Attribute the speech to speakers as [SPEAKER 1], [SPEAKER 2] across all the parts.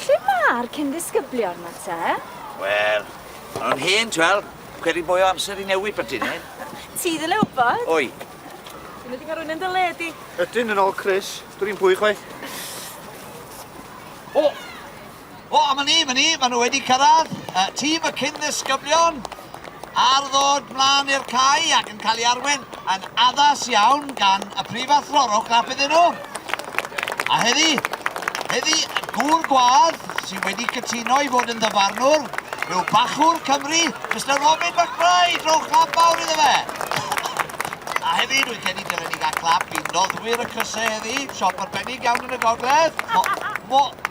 [SPEAKER 1] Lle ma'r cyn ddisgyblion ma te? Wel,
[SPEAKER 2] ma' nw'n hen t'wel, credu mwy o amser i newid byti ne? Ti ddyle wbod.
[SPEAKER 1] Oi.
[SPEAKER 2] Ti methu ca'l
[SPEAKER 1] rywun yn dy le di. Ydyn yn ol Chris.
[SPEAKER 3] Dwn i'm pwy chwaith.
[SPEAKER 2] O! O, a ma ni, ma ni, ma nhw wedi cyrraedd, y tîm y cyn ddisgyblion ar ddod mlaen i'r cae ac yn cael ei arwen yn addas iawn gan y prifathro. Rowch clap iddyn nhw. A heddi, heddi, gŵr gwadd sydd wedi cytuno i fod yn ddyfarnwr yw bachwr Cymru, Mr Robin McBride. Rowch clap mawr iddo fe. A heddi, dwi'n credu dylen ni gael clap i noddwyr y crysau heddi. Siop arbennig iawn yn y gogledd. Mo, mo,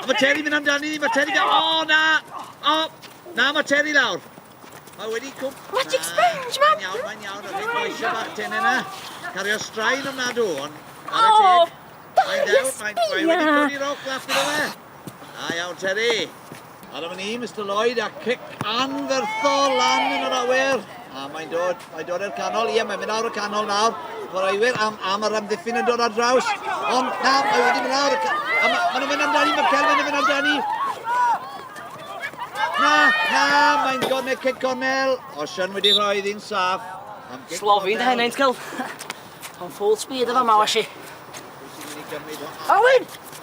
[SPEAKER 1] A mae Terry mynd
[SPEAKER 2] amdani ni, mae Terry gael... O, oh, na! O, oh, na, mae Terry lawr. Mae wedi cwm... Magic sponge, man!
[SPEAKER 1] Mae'n iawn, mae'n iawn, mae'n iawn,
[SPEAKER 2] eisiau bach ten yna. Cario straen o'n nadw, ond... O, oh, darius, bia! Mae wedi codi roc laf gyda fe. A iawn, Terry. Ar am ni, Mr Lloyd, a cic anferthol lan yn yr awyr. A mae'n dod, mae'n dod i'r canol. Ie, mae'n mynd awr y canol nawr. Chwaraewyr am, am yr amddiffyn yn dod ar draws. Ond na, mae wedi mynd awr y canol. A ma, maen nhw'n mynd amdani, mae Kelvin yn mynd amdani. Na, na, mae'n gornel cic cornel. Osian wedi rhoi ddyn saff. Slofin dy
[SPEAKER 4] henaint, Kel. Ond full speed efo ma, washi. Awyn!